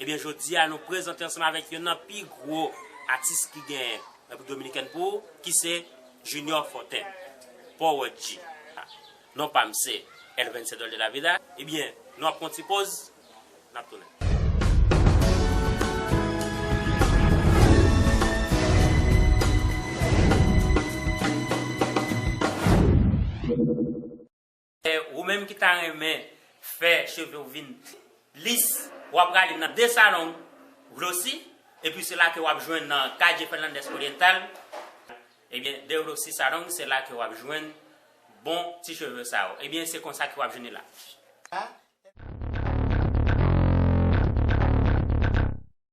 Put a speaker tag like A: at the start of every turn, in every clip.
A: Ebyen jodi a nou prezante ansanm avèk yonn nan pi gwo atis ki genyen Repiblik Dominikèn pou ki se Junior Fortin, Powòdj. Non pa m se El Vencedor de la Vida. Ebyen nou ap pran yon ti poz, n ap tounen. Ou menm ki ta renmen fè cheve w vin pi lis, w a prale nan The Salon Glossy, epi se la ke w ap jwenn nan Calle Fernandez Oriental, ebyen The Glossy Salon se la ke w ap jwenn bon ti cheve sa yo. Ebyen se konsa ke w ap jwenn li la.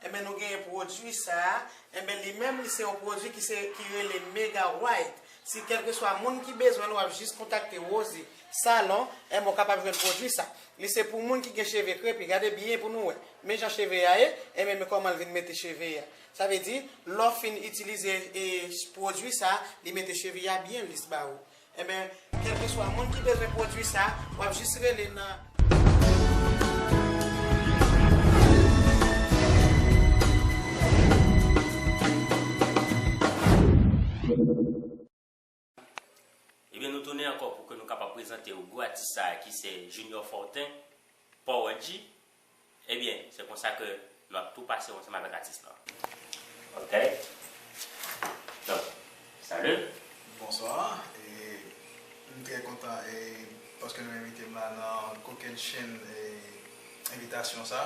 B: Enben nou genyen pwodui sa, enben li menm li se yon pwodui ki se ki rele Mega White. Si kèlkeswa moun ki bezwen l wap jis kontakte Rosy salon, enben w kapab jwenn pwodui sa. Li se pou moun ki gen cheve krepi, gade byen pou nou wè, men jan cheve a ye, enben men kòman l vin mete cheve a. Sa vle di lè w fin itilize pwodui sa, li mete cheve a byen lis ba ou. Enben, kèlkeswa moun ki bezwen pwodui sa, w ap jis rele nan.
A: Ebyen nou tounen ankò pou ke nou kapab prezante ou gwo atis sa a ki se Junior Fortin, Power-G, Ebyen se konsa ke nou ap tou pase ansanm avèk atis lan. Ok donk salut. Bonswa
C: e m trè kontan e paske nou envite m la nan kokenn chenn e envitasyon sa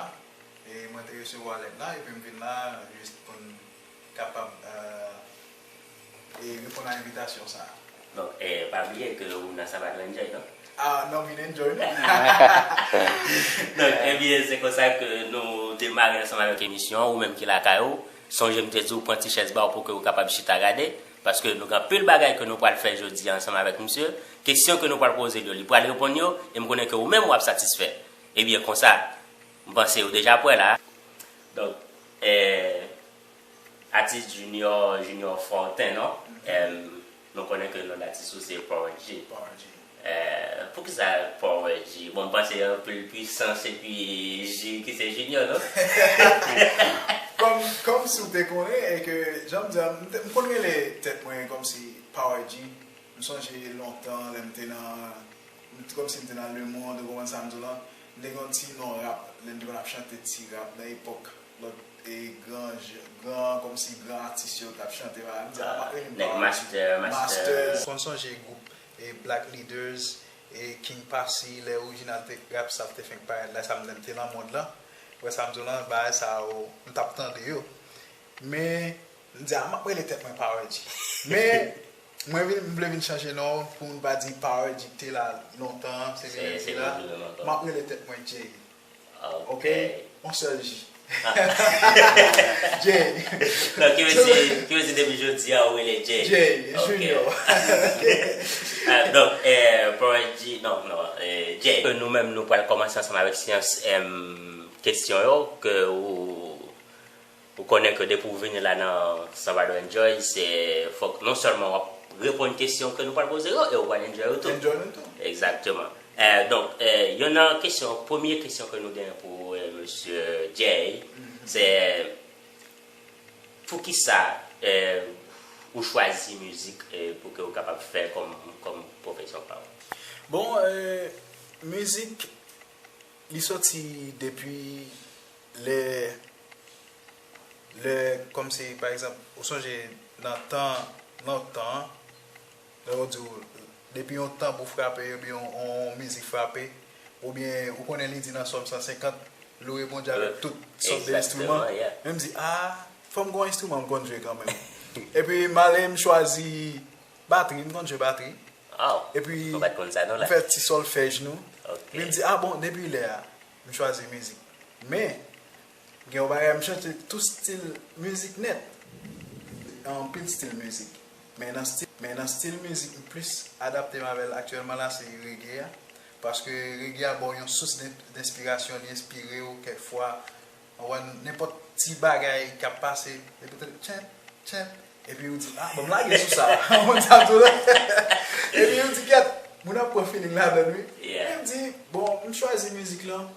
C: e mwen te resevwa lèt la epi m vin la jis pou n kapab reponn a envitasyon sa a. Donk, pa
A: bliye ke ou nan Sabbat ou enjoy non. Ah non vin enjoy
C: non.
A: Donk, ebyen se konsa ke nou demare ansanm avèk emisyon an. Ou menm ki lakay ou, sonje m te di ou pran ti chèz ba ou pou ke ou kapab chita gade. Paske nou gen anpil bagay ke nou pral fè jodi a ansanm avèk misye. Kesyon ke nou pral poze l yo, li pral reponn yo e m konnen ke ou menm w ap satisfè. Ebyen konsa. M panse ou deja pwè la. Donk eh atis junior junior forten non ehm nou konnen ke non datis ou se power G Power G eh poukisa power G bon m panse anpil pwisans epi G ki se junior non Kòm
C: kòm si w te konnen e ke jan m di a m m konn rele tèt mwen kòm si power G m sonje lontan lè m te nan m t kòm si m te nan le monde ou konprann sa m di w lan. Li gen yon ti non rap lè li te konn ap chante ti rap nan epòk lòt gran kòmsi gran atis yo tap chante pa m di pa rele m pa Master
A: Master. M konn sonje gwoup
C: Black Leaders, King Posse lè orijinal rap sa te fenk parèt la sa m lè m te nan mond lan wè sa m di w lan bagay sa yo m tap tande yo men M di a map rele tèt mwen Power G. Men mwen vin m vle vin chanje non pou moun pa di Power G te la lontan an se li menm ki la. Map rele tèt mwen Jay. Ok on sèl J. Jay. Donk ki vle
A: di ki vle di depi jodi a ou rele Jay. Jay Junior. Donk Power G non non Jay. Nou menm nou pral kòmanse ansanm avèk syans kesyon yo ke ou Pou konnen ke depi ou vini la nan Salvador Enjoy se fok non selman wap reponn kesyon ke nou pral poze yo e ou pral enjoy yo tou. Enjoy nou tou. Exactement. Donk yon nan kesyon, premye kesyon ke nou gen pou Mesye Jay se poukisa ou chwazi mizik pou ke ou kapab fè kom pwofesyon pa ou? Bon,
C: mizik li soti depi. Lè, lè, kòm si, pa egzanp, ou sonje nan tan lontan an, lè yo di w, depi yon tanbou frape oubyen yon mizik frape, oubyen ou konnen li di nan Sòm 150, Louwe Bondye avèk tout sòt de enstriman, men m di, a, fò m gen yon enstriman m konn jwe kanmenm. Epi m ale m chwazi batri, m konn jwe batri. Epi m fè ti sòlfèj nou. Men m di, a bon, depi lè a, m chwazi mizik men gen yon bagay m chante tout stil mizik nèt anpil stil mizik men nan stil mizik m plis adapte m avèl aktyèlman la se rege a paske rege a baw yon sous denspirasyon li enspirew kèk fwa Ou wè nenpòt ti bagay k ap pase, depi w tande tchèp, tchèp, epi ou di, a, ban m lage sou sa. Ou konn sa tou, non? Epi ou di, gyèt, moun ap pran filing ladan l, wi. Epi m di, bon, m chwazi mizik lan.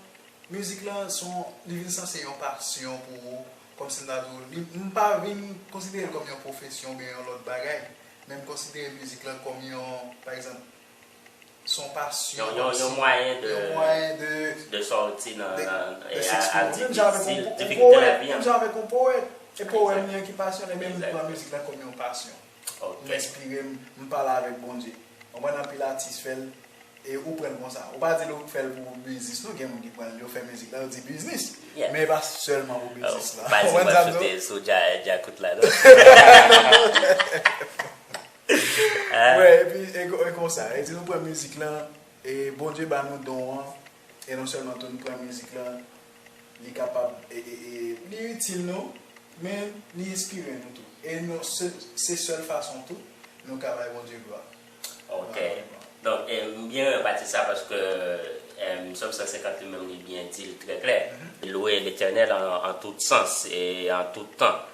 C: Mizik lan s on, li vin sanse yon pasyon pou ou, kòmsi m ta di w, li, m pa vin konsidere l kòm yon pwofesyon oubyen yon lòt bagay, men m konsidere mizik lan kòm yon, pa egzanp, Son pasyon. Yon mwayen de.
A: Yon mwayen de. De sòti nan. De s'exprimer. Menm jan avèk yon poète. Difikilte lavi an. Menm jan avèk yon poète.
C: E powèm li an ki pasyon li. Menm li pran mizik la kòm yon pasyon. Ok. M enspire m, m pale avèk Bondye. Konprann anpil atis fè l. E ou pran l konsa. Ou pa di l ou fè l pou biznis non. Gen moun ki pran l yo fè mizik la yo di biznis. Yeah. Men e pa sèlman pou biznis la. Ou pa di w ap choute sou
A: djakout la non.
C: Wè epi e konsa e di nou pran mizik lan e Bondye ba nou don an e non sèlman tou nou pran mizik lan li kapab e li itil nou men li enspire nou tou e nou se sèl fason tou nou ka bay Bondye glwa. Ok
A: donk m byen renmen pati sa paske Sòm 150 li menm li byen di l trè klè. Louez l'Eternel an tout sans e an tout tan.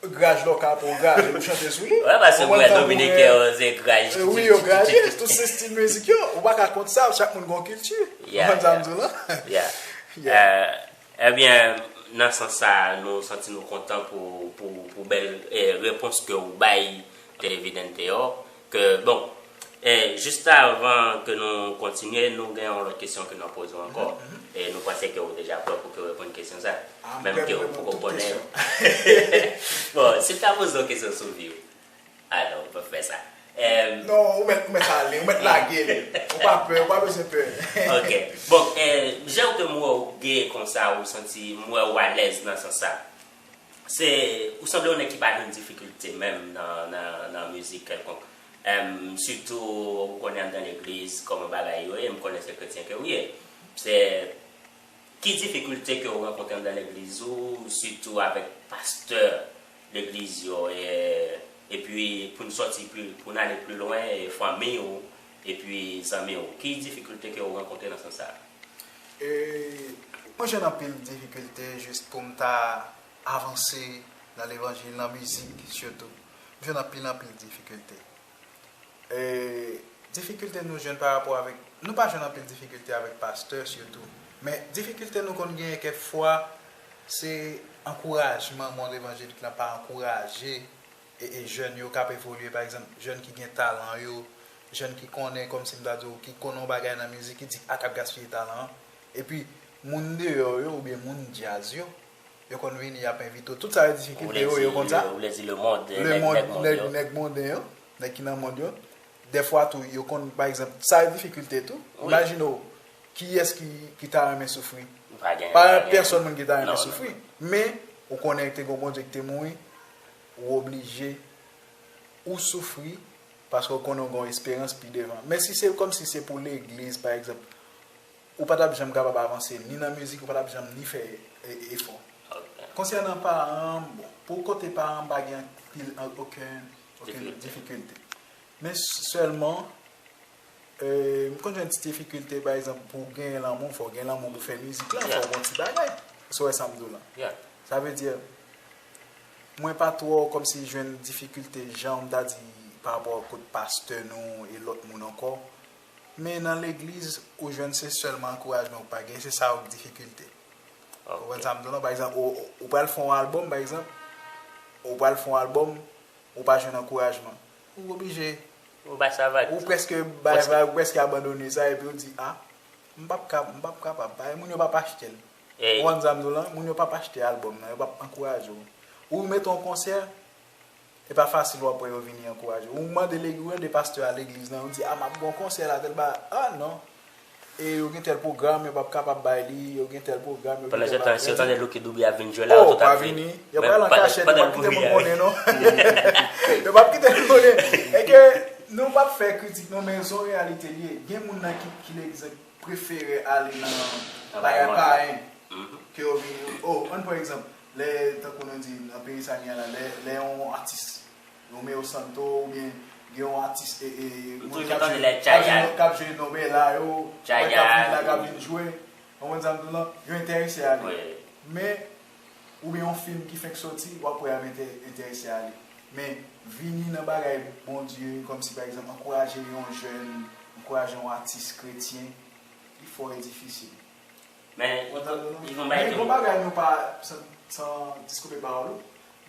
C: Graj lò ka bon graj e ou chante sou li. Wè paske mwen wè dominiken
A: yo se graj kikikiki. Wi yo graje
C: tout se stil mizik yo. Ou pa ka kont sa chak moun gon kilti. Ou konn sa m di w lan.
A: Yeah. Ebyen nan sans sa nou santi nou kontan pou bèl repons ke ou bay Televidente yo. Ke bon e juste avan ke nou kontinye nou gen yon lòt kesyon ke nap poze w ankò e nou panse ke ou deja prè pou ke w reponn kesyon sa menm ke ou poko konnen yo bon si m ta poze w kesyon sou vi w a non ou pap fè sa e. Non ou mèt ou mèt
C: ale ou mèt lage li ou pa pè ou pa bezwen pè ok bon e
A: jan ke m wè w gee konsa ou santi m wè w alèz nan sans sa Se ou sanble yon nèg ki pa jwenn difikilte menm nan mizik kèlkonk sitou ou konnen anndan legliz kòman bagay yo ye, m konnen se kretyen ke ou ye se ki difikilte ke ou rankontre anndan legliz ou sitou avèk pastè legliz yo epi pou n sòti pou n ale pli lwen fanmi ou epi zanmi ou ki difikilte ke ou rankontre nan sans sa?
C: Mwen jwenn anpil difikilte jis pou m ta avanse nan levanjil, nan mizik sitou. M jwenn anpil anpil difikilte. Difikilte nou jwenn parapò avèk, nou pa jwenn anpil difikilte avèk pastè sitou. Men difikilte nou konn genyen kèk fwa se ankourajman moun levanjilik lan pa ankouraje. Jèn yo k ap evolye, pa egzanp, jèn ki gen talan yo, jèn ki konnen, kòmsi m ta di w, ki konnen yon bagay nan mizik, ki di a k ap gaspiye talan an. Epi, moun deyò yo oubyen moun djaz yo, yo konn vini, y ap envite w. Tout sa yo difikilte yo, yo konn sa. Ou vle di
A: lemond, nèg mond yo. Nèg monden yo, nèg ki nan mond
C: yo. Dèfwa tou, yo konn, pa egzanp, sa yo difikilte tou. Imajine w, kiyès ki ta renmen soufri? Pa gen. Pa gen pèsonn moun ki ta renmen soufri. Men, ou konnen te gen yon Bondye ki te mouri, ou oblije ou soufri paske ou konnen ou gen yon esperans pi devan. Men si se kòmsi se pou legliz pa egzanp, ou pa t ap janm kapab avanse ni nan mizik, ou pa t ap janm ni fè efò. Konsènan paran, bon, pou kote paran m pa gen anpil, okenn difikilte. Men sèlman, m konn jwenn ti difikilte pa egzanp pou genyen lanmou, fò w gen lanmou pou fè mizik la, fò w gen yon ti bagay. Èske w wè sa m di w la? Sa vle di. Mwen pa twò kòmsi jwenn difikilte janm ta di pa rapò kot pastè nou e lòt moun ankò men nan legliz ou jwenn se sèlman ankourajman ou pa gen se sa ou k difikilte ou konprann sa m di w lan pa egzanp ou pral fè yon albòm pa egzanp ou pral fè yon albòm ou pa jwenn ankourajman ou oblije ou bay sa vag
A: ou prèske bay
C: vag ou prèske abandone sa epi ou di a m pap kapab bay moun yo pap achte l. Ou konn sa m di w
A: lan, moun yo
C: pap achte album nan, yo pap ankouraje w. Ou met on konsè, e pa fasil wap wè yo vini ankouraje w. Ou mande legi, ou mande pastè a legliz lan, yo di a map gen on konsè la tèl ba, a non, e yo gen tèl pwogram, yo pap kapab bay li, yo gen tèl pwogram, yo gen tèl bagay. Pandan se tan, si yo tande
A: Lucky Dube ap vin jwe la, yo tout ap vin. O, pa vini. Yo
C: pral an kachèt, yo pap kite moun konnen non. Yo pap kite moun konnen. E ke nou pap fè kritik non, men son reyalite li ye. Gen moun nan ki legliz lan. prefere ale nan bagay payen ke yo vin oh ann pran egzanp lè tankou nou di nan peyi sa gen la lè yon atis Romeo Santo oubyen gen yon atis moun kap jwe kap jwe Nobela yo kap vin la kap vin jwe konprann sa m di w lan yo enterese ale men oubyen yon film ki fenk soti wap wè ap entèrese ale men vini nan bagay Bondye kòmsi pa egzanp ankouraje yon jèn ankouraje yon atis kretyen li fò e difisil Men ou
A: antann nou non? Yon bagay tou bagay nou pa
C: san diskoupe pawòl ou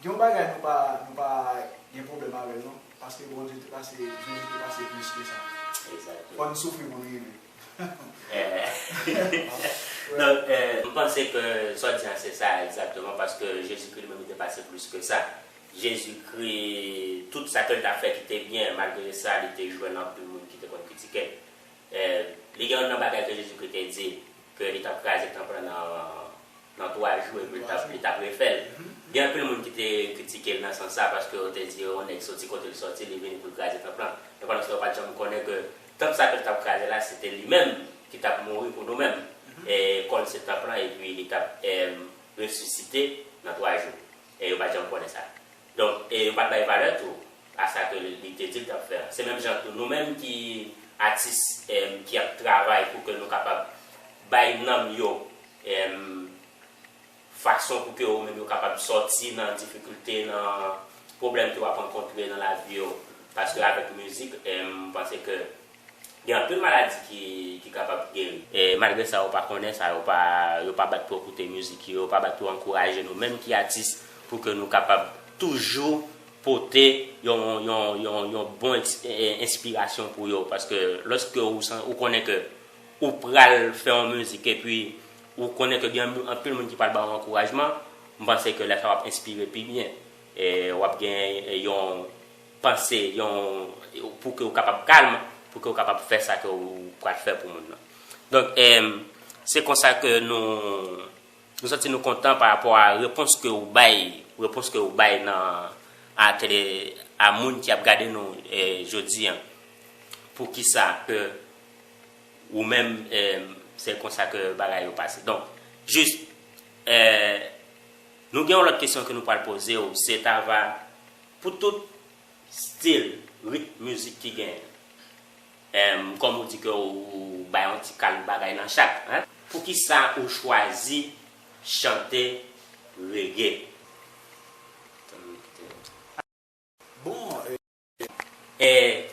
C: gen yon bagay nou pa nou pa gen pwoblèm avèl non paske Bondye te pase Jezi te pase plis ke sa Exactement fò nou soufri
A: pou nou rive. M panse ke sa w di an se sa egzakteman paske Jezikri li menm li te pase plis ke sa. Jezikri, tout sa ke l t ap fè ki te byen, malgre sa li te jwenn anpil moun ki te konn kritike l. Li gen youn nan bagay ke Jezikri te di ke li t ap kraze tanp lan nan twa jou epi li t ap refè l. Gen anpil moun ki te kritike l nan sans sa paske yo te di yon nèg soti kote l soti li vini pou l kraze tanp lan. Men pandan sa yo pa t janm konnen ke Tanp sa ke l t ap kraze la, se te li menm ki t ap mouri pou nou menm. E kò l se tanp lan, epi li t ap resisite nan twa jou. E yo pa t janm konnen sa. Donk, e yo pa t bay valè tou a sa ke li te di l t ap fè an. Se menm jan tou, nou menm ki atis ki ap travay pou ke nou kapab bay nanm yo. Fason pou ke ou menm yo kapab sòti nan difikilte, nan pwoblèm ke wap rankontre nan lavi yo. Paske avèk mizik, m panse ke gen anpil maladi ki kapab geri. E malgre sa yo pa konnen sa, yo pa yo pa bat pou yo koute mizik yo, yo pa bat pou yo ankouraje nou menm ki atis pou ke nou kapab toujou pote yon yon yon yon bon enspirasyon pou yo. Paske lòske ou konnen ke ou pral fè yon mizik epi Ou konnen ke gen anpil moun ki pral ba ou ankourajman, m panse ke lè sa w ap enspire pi byen, e w ap gen yon panse, yon, pou ke ou kapab kalm, pou ke ou kapab fè sa ke ou pral fè pou moun nan. Donk, se konsa ke nou, nou santi nou kontan pa rapò a repons ke ou bay, repons ke ou bay nan, a tele, a moun ki ap gade nou jodi an, pou ki sa ke. Ou menm se konsa ke bagay yo pase. Donk, jis, nou gen yon lòt kesyon ke nou pral poze ou, se ta va, pou tout stil, rit mizik ki gen, kòm ou di ke ou bay yon ti kal bagay nan chak, poukisa ou chwazi chante reggae?
C: Bon,
A: Eh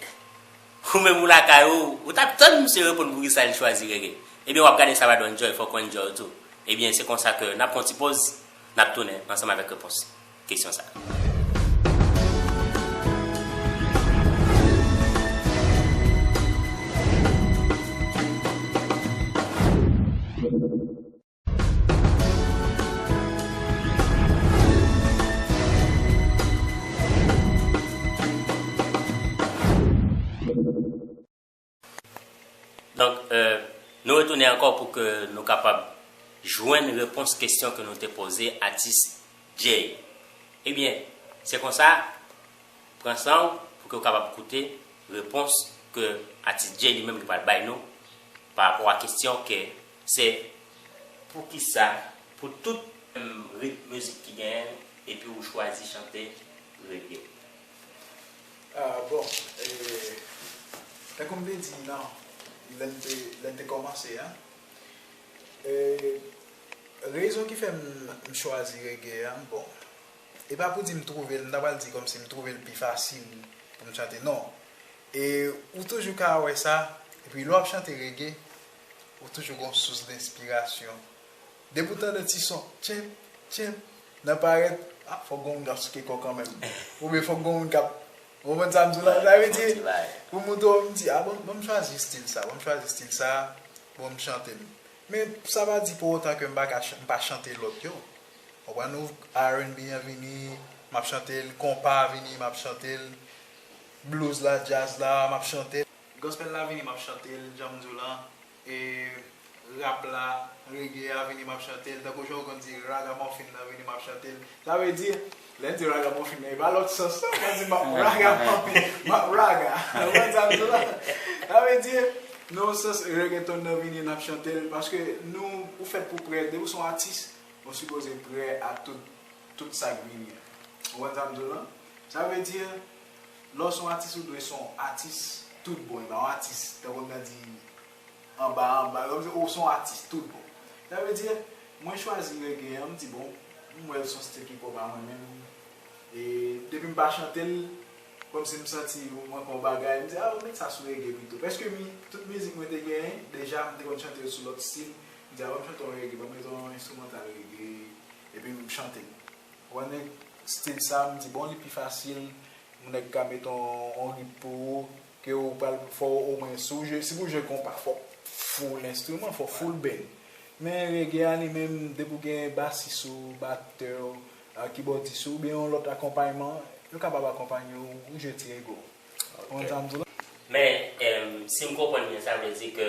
A: Ou menm ou lakay ou, ou tap tann misye reponn poukisa li chwazi reggae. Ebyen wap gade sa va donn Joy, fòk ou enjoy tou. Ebyen se konsa ke nap pran yon ti poz, nap tounen ansanm avèk repons kesyon sa. Donk, nou retounen ankò pou ke nou kapab jwenn repons kestyon ke nou te poze atis Jay. Ebyen, se konsa, pran san ou pou ke ou kapab koute repons ke atis Jay li menm li pral bay nou pa rapò a kestyon ke Se poukisa pou tout menm ritm mizik ki genyen epi ou chwazi chante reggae?
C: Ah bon tankoum te di nan lèm te lèm te kòmanse an rezon ki fèm chwazi reggae an bon e pa pou di m twouvel m ta pral di kòmsi m twouvel pi fasil poum chante non e ou toujou ka wè sa epi lè wap chante reggae Ou toujou gon sous lenspirasyon. Depi w tande ti son tchenp, tchenp nan parèt, ah fòk gon moun k ap souke kò kanmenm. Oubyen fòk gon moun k ap, ou konprann sa m di w la? Sa vle di, pou moun twò m di, ah bon m chwazi stil sa, bon m chwazi stil sa, bon m chante l. Men sa pa di pou otan ke m pa ka, m pa chante lòt yo. Ou konprann ou? RNB an vini, m ap chante l, konpa a vini, m ap chante l, blues la, djaz la, m ap chante l. Gospel la vini map chantel janm diw lan e rap la reggae a vini map chantel tankou janw konn di ragamuffin nan vini map chantel sa vle di lèn di ragamuffin nan epa lòt sans non mwen di map raga muffin map raga ou konn sam di la sa vle di nan yon sans reggaeton nan vini nap chantel paske nou ou fèt pou prè depiw son atis ou sipoze prè a tout tout sak vini an ou konn sam diw lan sa vle di. Lè w son atis ou dwe son atis tout bon epa yon atis tankou m ta di anba anba non ou son atis tout bon sa vle di mwen chwazi reggae an m di bon m wè l son stil ki pwòp a mwen menm e depi m pa chante l kòmsi m santi ou manke yon bagay m di a met sa sou reggae pito pèske mi tout mizik mwen te genyen deja m te konn chante l sou lòt stil m di a banm chante yon reggae banm met yon enstrimantal reggae epi m chante l. Wè nèg stil sa m di bon li pi fasil yon nèg ka met yon rit pou ou ke ou pral fò ou omwen si pou w jwe konpa fò w full enstriman fò w full band men reggae a li menm depi w gen basis ou batè w kibòdis ou oubyen yon lòt akonpayman yo kapab akonpanye w ou jwe ti reggae w konprann sa m di w la. Men
A: si m konprann byen sa vle di ke.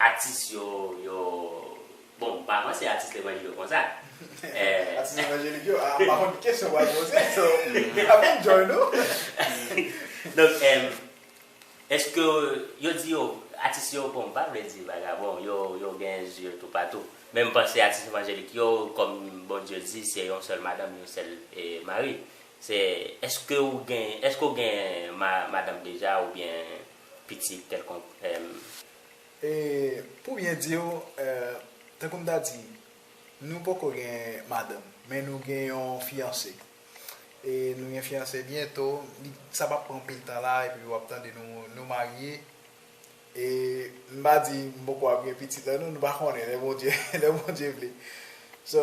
A: Atis yo yo Bon m pa panse atis levanjil yo konsa Atis
C: levanjelik yo a m pa konn ki kesyon w pral poze so m pap enjoy non
A: Donk Eske yo di yo Atis yo bon m pa vle di vagabon yo yo gen zye toupatou men m panse atis levanjelik yo kòm Bondye di se yon sèl madanm yon sèl mari se Eske ou gen Eske ou gen madanm deja oubyen pitit kèlkonk èm.
C: E, pou byen di w, tankou m ta di, nou poko gen madanm, men nou gen yon fiyanse. E nou gen fiyanse byento, li, sa p ap pran anpil tan la, epi w ap tande nou, nou marye. E, m pa di m poko ap gen pitit la non, nou pa konnen, lè Bondye, lè Bondye vle. So,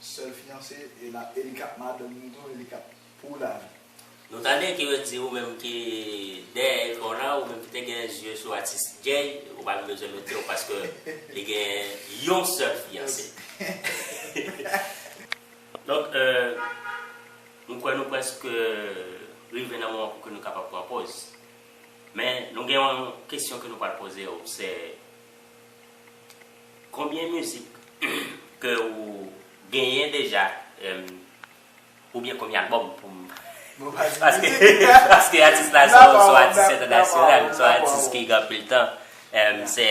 C: Sèl fiyanse e la e li kap madanm nou tou e li kap pou lavi. Nou tande ki yo
A: di ou menm ki dèyè ekran w la ou menm ki te gen zye sou atis Jay ou pa gen bezwen mete w paske li gen yon sèl fiyanse donk m kwè nou prèske rive nan moman pou ke nou kapab pran poz men nou gen yon kesyon ke nou pral poze w se. Konbyen mizik ke ou genyen deja oubyen konbyen album pou m paske atis la se yon atis entènasyonal se yon atis ki gen anpil tan se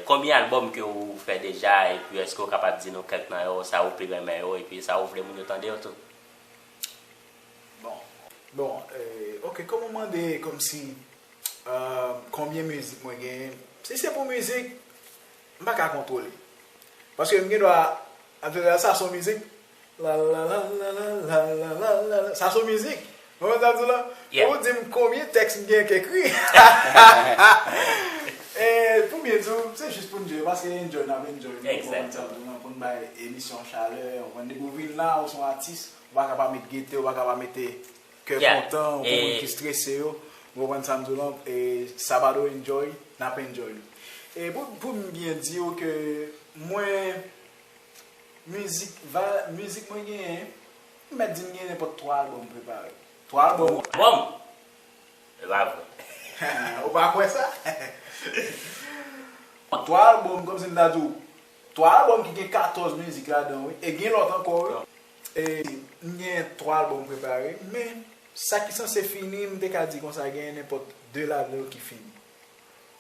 A: konbyen album ke ou fè deja epi eske ou kapab di nou kèk nan yo sa ou pi renmen yo epi sa ou vle moun yo tande yo tou. Bon
C: bon ok kòman w mande kòmsi konbyen mizik mwen genyen si se pou mizik m pa ka kontwole paske m gendwa ap jwe sa son mizik lalalalalalala sa son mizik ou konprann sa m di w la pou w di m konbyen tèks m genyen k ekri hahahaa pou byen di w se jis pou n jwe paske enjoy n ap enjoy m konprann sa m di w la pou n bay emisyon chalè ou konprann depi w vin la ou son atis Ou pa ka pa met gete, ou pa ka pa mete kè kontan pou moun ki strese yo. Ou konprann sa m di w lan? E Sabado enjoy, n ap enjoy li. E pou m byen di w ke mwen, mizik va, mizik mwen genyen, m mèt di m genyen nenpòt 3 albòm prepare. 3 albòm. Albòm? E
A: pa vre. Ou pa kwè sa?
C: 3 albòm, kòm si m ta di w, 3 album ki gen 14 mizik ladan wi e gen lòt ankò wi. M gen 3 album prepare men sa ki sanse fini m te ka di konsa gen nenpòt 2 ladan yo ki fini.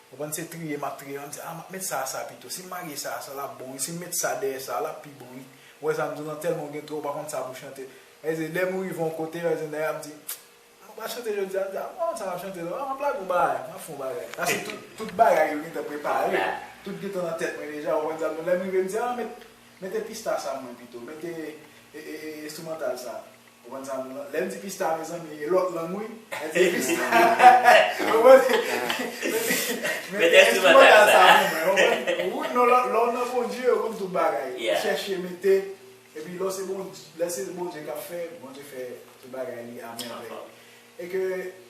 C: Ou konprann se triye map triye map di a map met sa a sa pito si m lage sa a sa lap bon wi si m met sa dèyè sa a lap pi bon wi ou wè sa m di w lan tèlman ou gen twòp ou pa konn sa pou w chante. Sa vle di lè m rive yon kote sa vle di nèg la ap di Mwen pa chante jodi a, m di a bon sa map chante non, map lage yon bagay, map fè yon bagay. Paske tout bagay yo gentan prepare, tout gentan nan tèt mwen deja, ou konprann sa, bon lèm rive m di a met mete pista sa mwen pito, mete enstrimantal sa, ou konprann sa, lèm di pista mezanmi e lòt lang wi, mete pista, ou konprann,
A: mete enstrimantal sa pou mwen, ou konprann,
C: ou lè w nan Bondye ou konn tout bagay, ou chèche mete. Epi lò se bon lè se Bondye kap fè Bondye fè tout bagay li a mèvèy e ke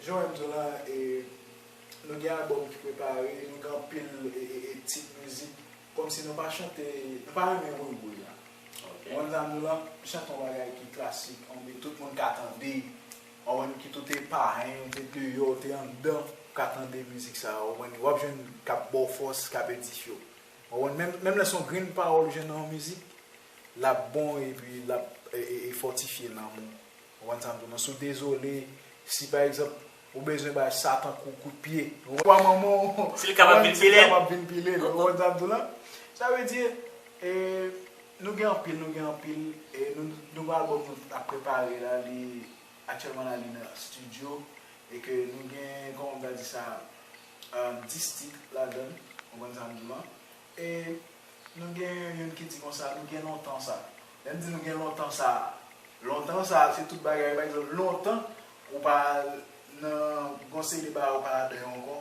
C: jan wèm diw lan e nou gen album ki prepare nou gen anpil e tit mizik kòmsi nou pa chante nou pa renmen woy woy la ou wèm sa m diw lan m chante yon bagay ki klasik yon de tout moun ka tande ou wèm kit ou te parenn ou te deyò ou te anndan ou ka tande mizik sa ou wèm wap jwenn kap baw fòs kap edifye w Waww menm lè son grenn pawòl ou jwenn nan yon mizik lap bon epi lap fòtifye nanm ou konprann sa m di w nan si w dezole si pa egzanp ou bezwen bay satan kout pye pwa manman w si l kapab
A: vin pile l konprann sa m di w la
C: sa vle di nou gen anpil nou gen anpil nouvo albòm nou ap prepare la li aktyèlman la li nan studio e ke nou gen kòman m ta di sa 10 tit ladan l, konprann sa m di w lan. E nou gen youn ki di konsa, nou gen lontan sa. Lè m di nou gen lontan sa, lontan sa se tout bagay. Pa egzanp, lontan ou pa al nan gon seri de bagay ou pa ladan yo ankò.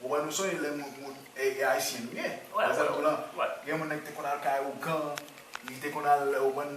C: Ou wè nou sonje lè moun, moun e ayisyen nou ye. Wè wè wè. Gen moun nan ki te konn al kay ougan, li te konn al ou konn.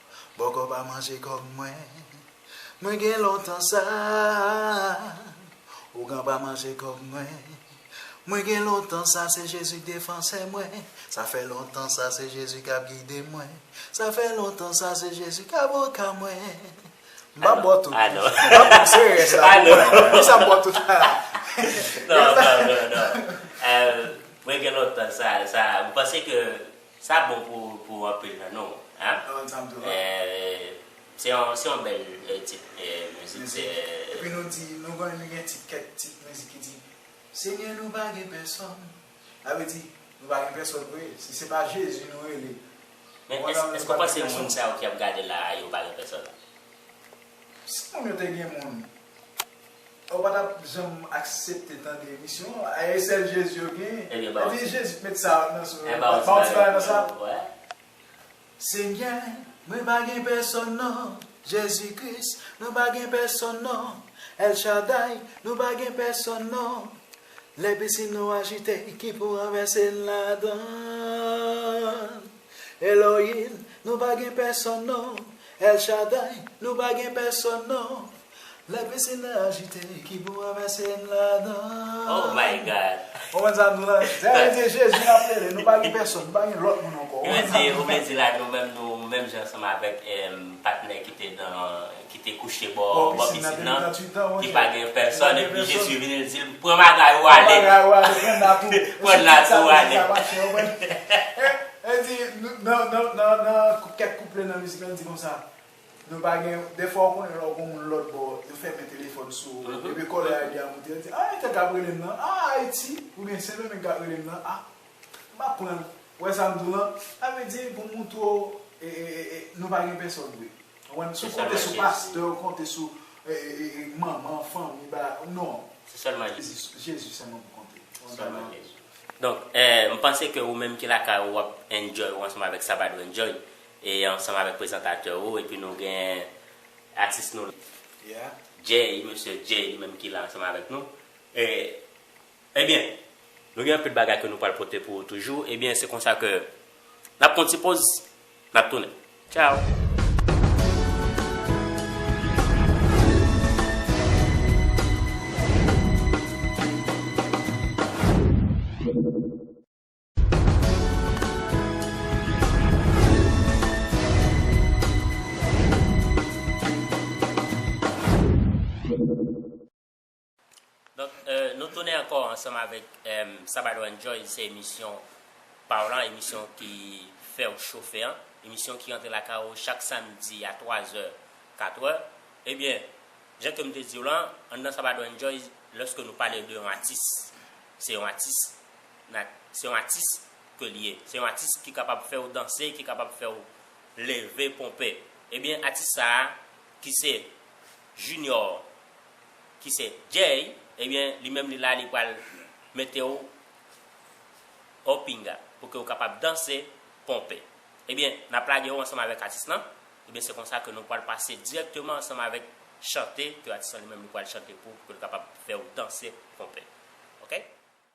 C: Bòkò pa manje kòb mwen Mwen gen lontan sa Ougan pa manje kòb mwen Mwen gen lontan sa Se Jezi k defansè mwen Sa fè lontan sa Se Jezi k ap gide mwen Sa fè lontan sa Se Jezi k avoka mwen M pa bò tout non M pa bò se
A: rès la pou
C: mwen Pou sa m bò tout la Non non
A: non Mwen gen lontan sa Ou panse ke Sa bon pou anpil nan nou hein. Se yon bèl tit mizik. Epi nou
C: di nou gen kèk tit mizik ki di Senyè nou pa gen pèsòn. Sa vle di nou pa gen pèsòn vre. Si se pa Jezi nou rele. Men
A: èske ou panse moun sa yo ki ap gade la a yo pa gen pèsòn?
C: Si moun yo te gen moun. Ou pa tap janm aksepte tande emisyon an a e sèl jezi yo gen Ebyen ba ebyen jezi t met sa nan sou yo ba ou ti bagay nan sa Senyè mwen pa gen pèsòn non jezi kris nou pa gen pèsòn non El Shaddai nou pa gen pèsòn non lè pisin nou ajite ki pou ranvèse n ladann Elohim nou pa gen pèsòn non El Shaddai nou pa gen pèsòn non Lè pisin nan ajite ki pou mwen vèse m ladan. Ou
A: konn sa nou la?
C: Zè yo di Jezi n ap rele, nou pa gen pèsòn, nou pa gen lòt moun ankò. Ou konn sa nou la? Yo vle di la
A: nou menm nou menm jan ansanm avèk patnè ki te nan, ki te kouche bò pisin nan ki pa gen pèsòn epi Jezi vini l di l pran bagay ou ale. Pran bagay ou ale, pran nat ou. Pran nat ou ale.
C: Yo di nan kèk kouple nan mizik la yo di konsa. Nou pa gen, dèfwa ou konnen lè w gon moun lòt bò, yo fèmen telefòn sou ou, epi kòlè a byen moute, yo di, a entèl kap rele m nan, a Ayiti, oubyen Sendomeng kap rele m nan, a, m ap pran l, ou wè sa m di w lan, sa vle di pou m moutre w, e, e, e, e, nou pa gen pèsòn vre, ou konprann, si w konte sou pastè, ou konte sou, e, e, e, e, manman, fanmi, ba, non. Se sèlman Jezi.
A: Jezi sèlman
C: pou konte. Sèlman
A: Jezi. Donk, e, m panse ke ou menm ki lakay ou, w ap enjoy ou ansanm avèk Sabadoo enjoy, E ansanm avèk prezantatè ou epi nou gen atis nou Jay, mesye Jay li menm ki la ansanm avèk nou. E Ebyen nou gen anpil bagay ke nou pral pote pou ou toujou. Ebyen se konsa ke n ap pran yon ti poz, n ap tounen. Tchao! Donk nou tounen ankò ansanm avèk Sabado Enjoy se emisyon pa w lan, emisyon ki fè w chofe an, emisyon ki rantre lakay ou chak samdi a 3 zè, 4 è. Ebyen, jan ke m te di w lan, anndan Sabado Enjoy, lòske nou pale de yon atis, se yon atis. Nat se yon atis ke li ye. Se yon atis ki kapab fè ou danse, ki kapab fè ou leve, ponpe. Ebyen atis sa a ki se Junior, ki se Jay, ebyen li menm li la li pral mete ou o pinga pou ke ou kapab danse, ponpe. Ebyen n ap lage ou ansanm avèk atis lan. Ebyen se konsa ke nou pral pase dirèkteman ansanm avèk chante ke atis lan li menm li pral chante pou ou pou ke l kapab fè ou danse, ponpe. Ok?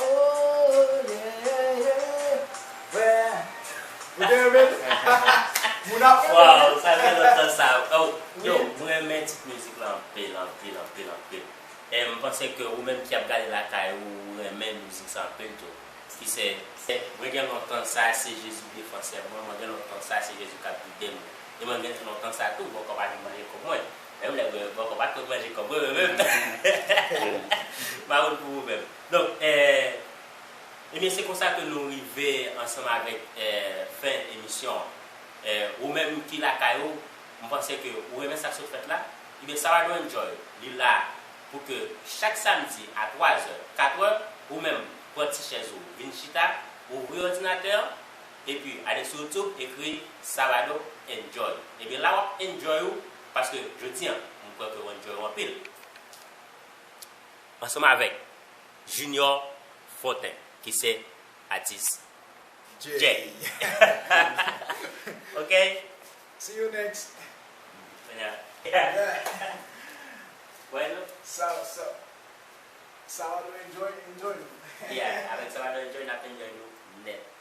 D: Ooh yeah
A: yeah Where Ou te renmen li? Moun ap renmen li Waww sa fè lontan sa oh Yo m renmen tit mizik lan anpil anpil anpil anpil e m panse ke ou menm ki ap gade lakay ou ou renmen mizik sa anpil tou ki se. Mwen gen lontan sa se Jezi defansè mwen mwen gen lontan sa se Jezi kap gidem e mwen gen lontan sa tou bòkò pa vin manje kòb mwen. Menm lè mwen bòkò pat konn manje kòb mwen mwen menm Maroon pou ou menm Donk Ebyen se konsa ke nou rive ansanm avèk fen emisyon an Ou menm ki lakay ou m panse ke ou renmen sak sot fèt la Ebyen sa Radyo Enjoy li la pou ke chak samdi a 3 zè 4 è ou menm pran ti chèz ou vin chita ouvri òdinatè an Epi ale sou youtube ekri Salado enjoy ebyen la wap enjoy ou paske jodi an m kwè ke w enjoy ou anpil ansanm avèk Junior Fortin ki se atis Jay ok see you
C: next
A: Salado
C: enjoy enjoy nou yeah avèk
A: Salado enjoy nap enjoy nou nèt.